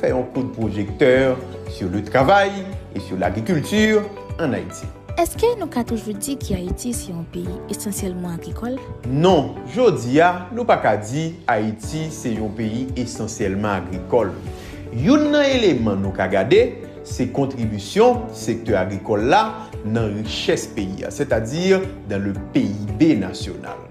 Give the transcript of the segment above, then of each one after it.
Fè yon kout pwojektè sur le travail et sur l'agriculture en Haïti. Èske nou ka toujou di ke Ayiti se yon peyi esansyèlman agrikòl? Non, jodi a, nou pa ka di Ayiti se yon peyi esansyèlman agrikòl. Youn nan eleman nou ka gade, se kontribisyon sektè agrikòl la nan richès peyi a, sètadi dan le PIB nasyonal.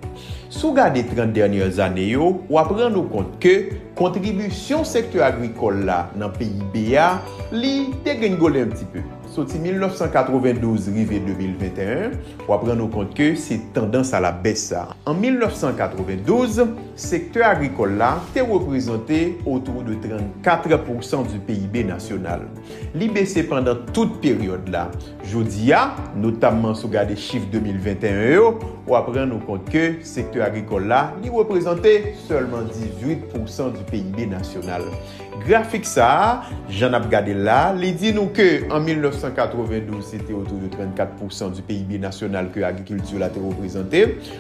Si w gade 30 dènyè zane yo, w ap rann ou kont ke kontribisyon sektè agrikòl la nan PIB a, li degrenngole yon ti pe. Soti 1992 rive 2021, w ap rann ou kont ke se tandans a la bès sa. An 1992, sektè agrikòl la te reprezante autour de 34 pousan du PIB nasyonal. Li bese pandan tout peryòd la. Jodi a, notamman si w gade chif 2021 yo, w ap rann ou kont ke sektè agrikòl la, li reprezante sèlman 18 pousan di PIB nasyonal. Grafik sa a, jan n ap gade l la, li di nou ke an 1992 se te otou de 34 pousan di PIB nasyonal ke agrikilti la te reprezante.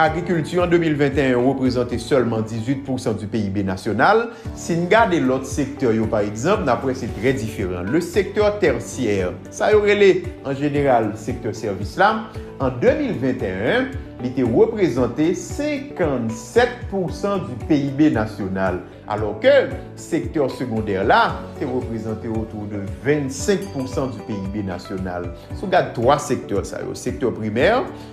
Agrikilti an 2021 reprezante sèlman 18 pousan di PIB nasyonal. Si n gade lòt sektè yo pa egzanp, n ap wè se trè diferan. Le sektè tèsyè, sa yo rele an jeneral sektè sèvis la, an 2021, li te reprezante 57 pousan di PIB nasyonal. Alò ke sektè segondè la te reprezante otou de 25 pousan di PIB nasyonal. Si w gad 3 sektè sa yo, sektè primè,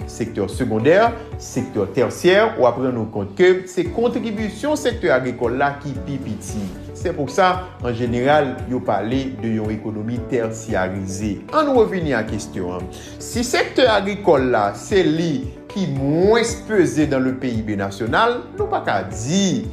sektè segondè, sektè tèsyè, w ap rann ou kont ke se kontribisyon sektè agrikòl la ki pi piti. Se pou sa, an jeneral, yo pale de yon ekonomi tèsyarize. An nou revini a kestyon an. Si sektè agrikòl la se li ki mwens peze dan le PIB nasyonal, nou pa ka di.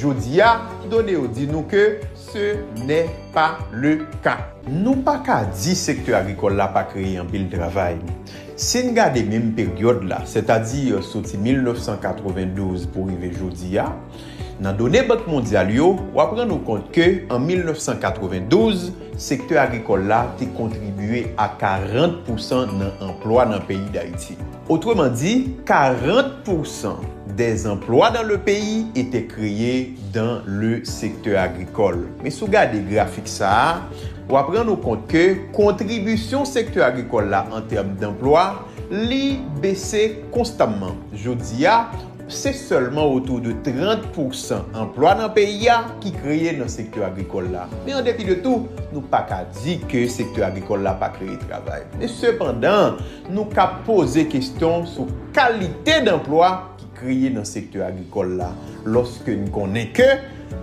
Jodi a, done yo di nou ke se nè pa le ka. Nou pa ka di sektè agrikòl la pa kreye anpil travay. Si n gade menm peryòd la, sètadi soti 1992 pou rive jodi a, nan done Bank Mondyal yo, w ap rann ou kont ke an 1992, sektè agrikòl la te kontribye a 40 pousan nan anplwa nan peyi Dayiti. Otreman di, 40 pousan dè zanplwa dan le peyi etè kreye dan le sektè agrikòl. Men si w gade grafik sa a, w ap rann ou kont ke kontribisyon sektè agrikòl la an tèm danplwa, li bese konstamman. Jodi a, se sèlman otou de 30 pousan anplwa nan peyi a ki kreye nan sektè agrikòl la. Men an depi de tou, nou pa ka di ke sektè agrikòl la pa kreye travay. Men sepandan, Nou ka poze kesyon sou kalite danplwa ki kreye nan sektè agrikòl la lòske n konnen ke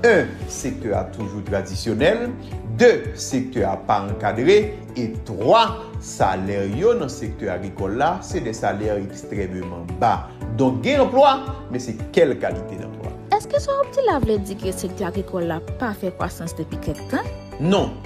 1 sektè a toujou tradisyonèl, 2 sektè a pa ankadre e 3 salè yo nan sektè agrikòl la se de salè ekstrèmeman ba. Donk gen anplwa, men se kèl kalite danplwa? Èske sa w ap di la vle di ke sektè agrikòl la pa fè kwasans depi kèk tan? Non,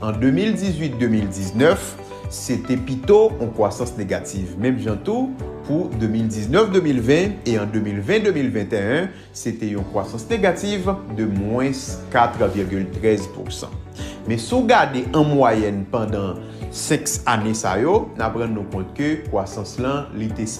An 2018-2019, se te pito yon kwasans negativ, menm jan tou pou 2019-2020 e an 2020-2021, se te yon kwasans negativ de mwens 4,13 pousan. Men si w gade an mwayèn pandan 5 ane sa yo, n ap rann nou kont ke kwasans lan li te.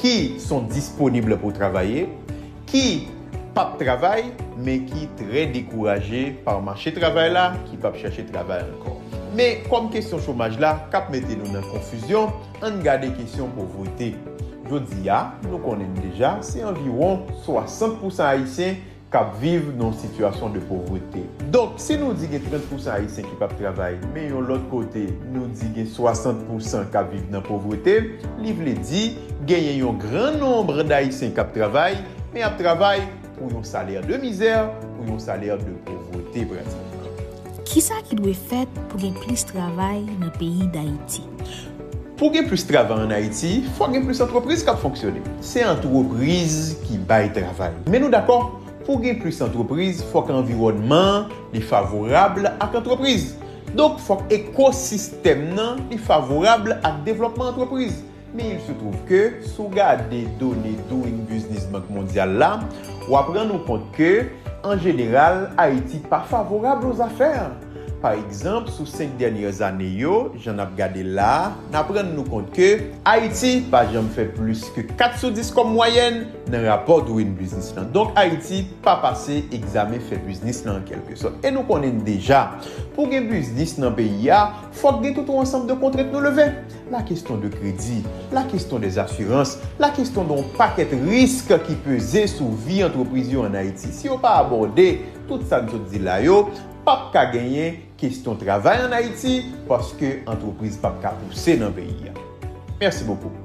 ki son disponible pou travaye, ki pap travay men ki trè dekouraje par mache travay la ki pap chache travay ankò. Men kòm kesyon chomaj la kap mete nou nan konfizyon, ann gade kesyon povrete. Jodi a, nou konnen deja se anviwon 60 pousan ayisyen k ap viv nan yon sitiyasyon de povrete. Donk, si nou di gen 30 pousan Ayisyen ki p ap travay, men yon lòt kote, nou di gen 60 pousan k ap viv nan povrete, li vle di genyen yon gran nonbre dAyisyen k ap travay, men y ap travay pou yon salè de mizè, pou yon salè de povrete pratikman. Kisa ki dwe fèt pou gen plis travay nan peyi dAyiti? Pou w gen plis travay an Ayiti, fòk gen plis antrepriz k ap fonksyone. Se antrepriz ki bay travay. Men nou dakò, pou gen plis antrepriz, fòk anviwònman an li favorab ak antrepriz. Donk, fòk ekosistèm nan li favorab ak devlòpman antrepriz. Men il se twouv ke, si w gade done Doing Business Bank Mondyal la, w ap rann ou kont ke, an jeneral, Ayiti pa favorab o zafè. Pa egzanp, sou 5 dènyè ane yo, jan n ap gade la a, n ap rann nou kont ke. Ayiti pa janm fè plis ke 4 sou 10 kòm mwayèn nan rapò Doing Business lan. Donk Ayiti pa pase egzamen fè biznis lan an kèlke sòt. E nou konnen deja, pou gen biznis nan peyi a, fòk gen tout yon ansanm de kontrent nou leve. La keston de kredi, la keston de zasirans, la keston de yon pakèt risk ki peze sou vi antrepriz yo an Ayiti. Si yo pa abòde tout sa n sot di la yo, pap ka genyen kesyon travay an Ayiti paske antrepriz pap ka pouse nan peyi a. Mèsi bokou.